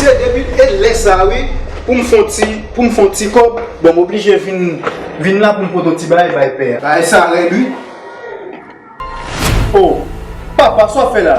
Se depi lè sa a wi pou m fon ti pou m fon ti kòb bon m oblije vin vin la pou m pot on ti bagay bay pè a. Bagay sa rèd wi. Oh papa sa w ap fè la?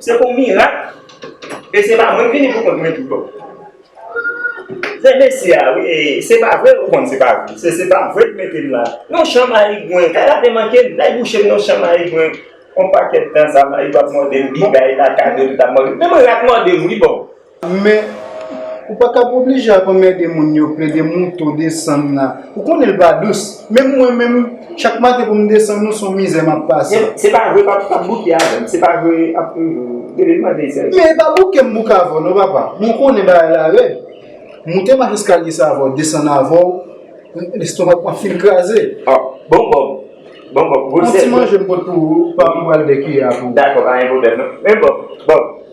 Se pou mirak e se pa mwen m vini pou kont mwen tou. Zè mesi a wi e se pa vre ou konn se pa vre. Se se pa vre k mete m la. Yon chan mayigwen kay la te manke m. Lay bouche m yon chan mayigwen. On pakèt tan sa mayigwen ap mòde m bigay la kado li tap mòde m. Menm rat mòde m wi boo. Men, ou pa t ap oblije ap anmède moun yo plede monte w desann la. Ou konnen l pa dous. Menm mwen menm, chak maten pou m desann ou, s on mizè m ap pase. Se pa vre pa p bouke avè m. Se pa vre ap Dede m mande sèvis. Men e pa bouke m bouke avè w non papa. Mwen konnen bagay la rèd. Monte mach eskalye sa avè w, desann avè w, lestomak mwen fin kraze. Ò, bon Bòb. Bon Bòb, gwo sèl. Bon ti manje m pot pou ou, pa pou w al dèkiyè a pou ou. Dakò, pa gen pwoblèm non. Men Bòb, Bòb.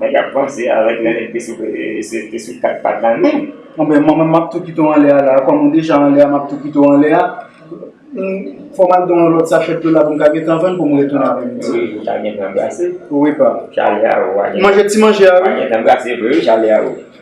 Mwen tap panse avek Nènèt te sou te sou 4 pat la menm. Anben mwen menm map tou kite w anlè a la, kòm ou deja anlè a map tou kite w anlè a. Fò m al gen yon lòt sachèt yola pou m ka gentan vann pou m retounen avè misye. Wi ou ta gentan brase. Wi pa. Chalè a ou a gentan. Manje ti manje a wi. Ou a gentan brase vre wi chalè a ou.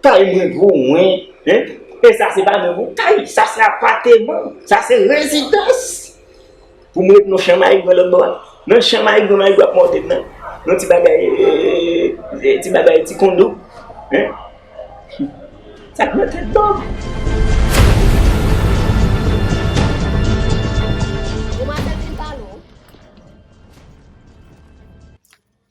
Kay mwen pou mwen, hein, e sa se pa menm yon kay, sa se apateman, sa se rezidans pou m ret nan chan mayigran lòt bò a. Nan chan mayigran, mayigran ap mòde m nan, nan ti bagay, e, ti bagay, ti kondo, hein. Sa k nan tèt pa w? Bon, m a tèt li pa lou.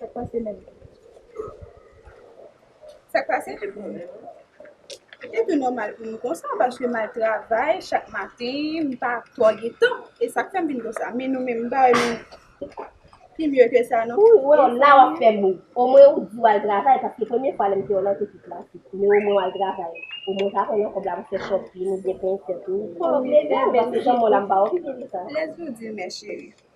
Sak pase menm? Sak pase? Se tou nòmal pou m konsa paske m al travay chak maten, m pa twò gen tan. E sak fè m vin konsa. Men nou menm m pa wè nou pi mye ke sa non. Ou wè w la w ap fè bri. Omwen ou di w al travay paske premye fwa lè m te wè w la w te pi klasik. Men omwen w al travay. Omwen w ka pran nan kòb la pou fè shopping oubyen penyen tèt ou. Ou pa oblije men se jan m wè w la m pa oblije di sa. Lèd sou di men cheri.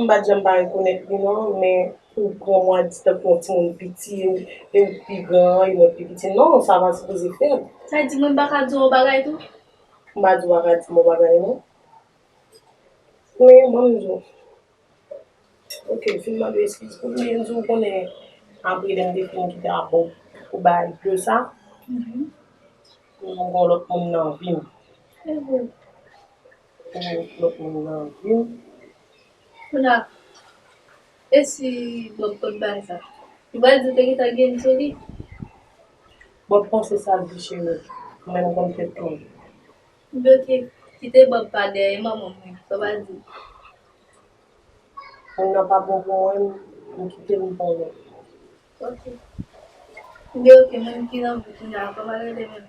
M pa t janm pa rekonèt li non, men pou w pran mwen di tankou yon timoun piti e w pi gran e mwen pi piti, non, sa pa sipoze fèt. Sa di mwen pa ka di w yon bagay tou? M pa di w pa ka di m yon bagay non. Men, ban m di w. Ok, fin mande w eskiz. Ou byen di w konnen apre lè m te fin kite ak ou, ou bay de sa, ou vin gen yon lòt moun nan vi m. pou lòt moun nan vim. Kounye a e si Bob pot bay sa? Li pral di ou te gentan gen sou li. Bob panse sal di cheri menm konn fè toul. Bloke, kite Bob pa dèyè manman mwen sa w pa di. Moun nan pa bon pou mwen m kite m pran lòt. Ok. Li ok moun ki nan vou kounya a koman rele menm?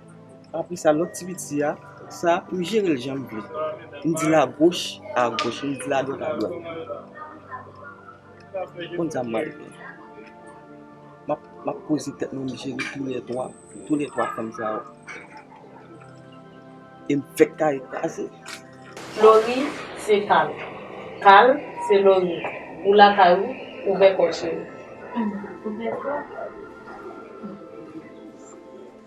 Apre sa lòt ti piti a, sa a m jere l jan m vle. M di l agoch, agoch, m di l adwat, adwat. Ou konn sa m pral fè? M ap poze tèt mwen m jere toulè twa, toulè twa fanm sa yo. E m fèk kare kraze. Lori se Kal. Kal se Lori. Ou lakay ou, ouvè kò w cheri. Ouvè kò.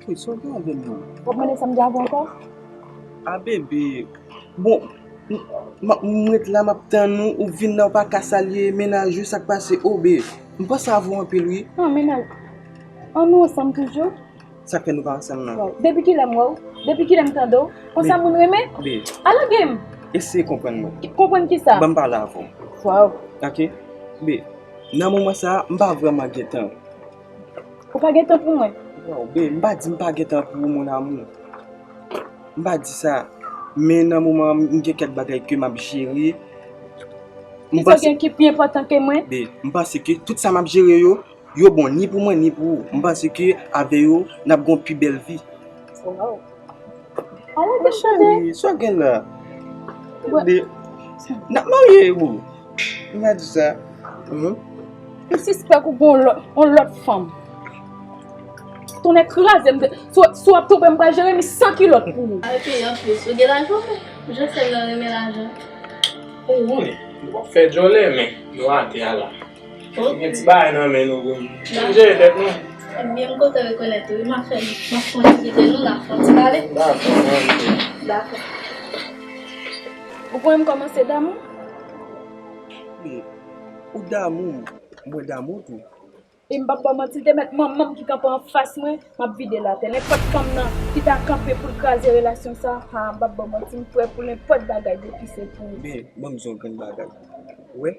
Kay sòti avèm nan. Wap mande sam djab ankò? A bebe Bon m ret la map tann ou ou vin la ou pa ka salye mennaj ou sak pase oh be m panse avè w anpil wi An mennaj An nou ansanm toujou? Sak fè nou pa ansanm nan? Depi kilè m wè w? Depi kilè m tande w? Konsa moun renmen? Be A lage m! Eseye konprann mwen Konprann kisa? Banm pale avè w Waw Ok Be Nan moman sa m pa vrèman gentan. Ou pa gen tan pou mwen? Waw bee, m pa di m pa gen tan pou ou mon amour. M pa di sa. Men nan moman an m gen kèk bagay ke m ap jere. Ki sa w gen ki pi enpòtan ke mwen? Bee, m panse ke tout sa m ap jere yo, yo bon ni pou mwen ni pou ou. M panse ke avè yo n ap gen yon pi bèl vi. Waw. An wè gen chante. Cheri, sa gen la. Gade. Nap marye ou. Ou pa di sa. Ou sispèk ou gon lòt, on lòt fanm. Tonnè kraze m. Si wap twonpe m pral jere mi san kilòt pou ou. Al peye anplis. Ou gen lajan ou? Josèl nan renmen lajan. Ou wi. Wap fè djòlè men. Nou atè a la. Ou gen ti bagay nan men nou pou nou. N ap jere tèt nou. Ebyen m kontan rekonèt ou wi. M ap fè m ap fon ti kite nou n ap fon ti pale. Dakò m anvi tou. Dakò. Ou kwè m kòmanse damou? Wi. Ou damou m. Mwen damou tou. E m p ap ba w manti l te mèt manman m ki kanpe anfas mwen m ap vide l atè. Nenpòt fanm nan ki ta kanpe pou l kraze relasyon sa a haa m p ap ba w manti m prè pou nenpòt bagay depi se pou ou. Men ban m di yon grenn bagay. Ou wè?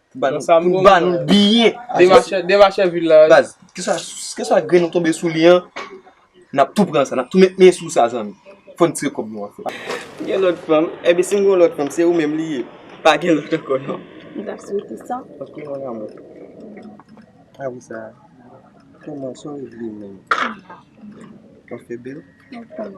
Pou ba nou biyè. Demachè vil la. Baz. Kè sa gren nou tonbe sou li an. Nap tou pran sa. Nap tou met men sou sa zanmi. Fon tire kob nou an. Gen lot fanm. Ebe si gen lot fanm. Se ou menm li ye. Pa gen lot anko non. M ta sou ete sa. Ok mon amour. A ou sa. Kè mwen sou ou vle men. Ou fè bel. Ou fè bel.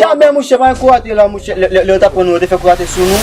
Jamè mouche pa gen kou atè la mouche lè yo tap pran nou yo te fè kou atè sou nou.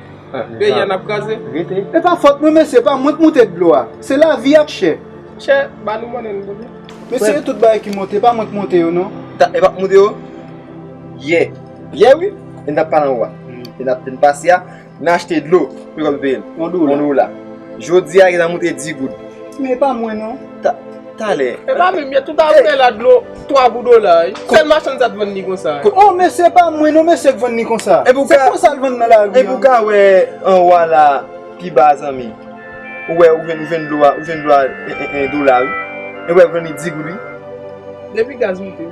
Peyi an ap kraze. E pa fòt mwen mesye, pa mwen k moute dlo a. Se lavi ak chè. Chè, ba nou monnen nou boude. Mesye e tout bagay ki monte, e pa mwen k monte yo non. Ta, e pa moute yo? Yè. Yè wi, e n tap pale anwa. E nap te n pase a, nan achte dlo. Pou yo kapab peye n. On dola. On dola. Jodi a, gen nan moute di goud. Men e pa mwen non. Talè. E pa menm, yè tout a vè la dlo 3 gou dola. Sèl machann sa t vann ni konsa. O mesye e pa mwen non mesye k vann ni konsa. Se konsa l vann nan lari an. E pou w ka wè anwo a la pi ba a zanmi. Ou wè ou jwenn dlo a 1 dola wi. E ou wè l vann li 10 goud wi. Depi gaz moute.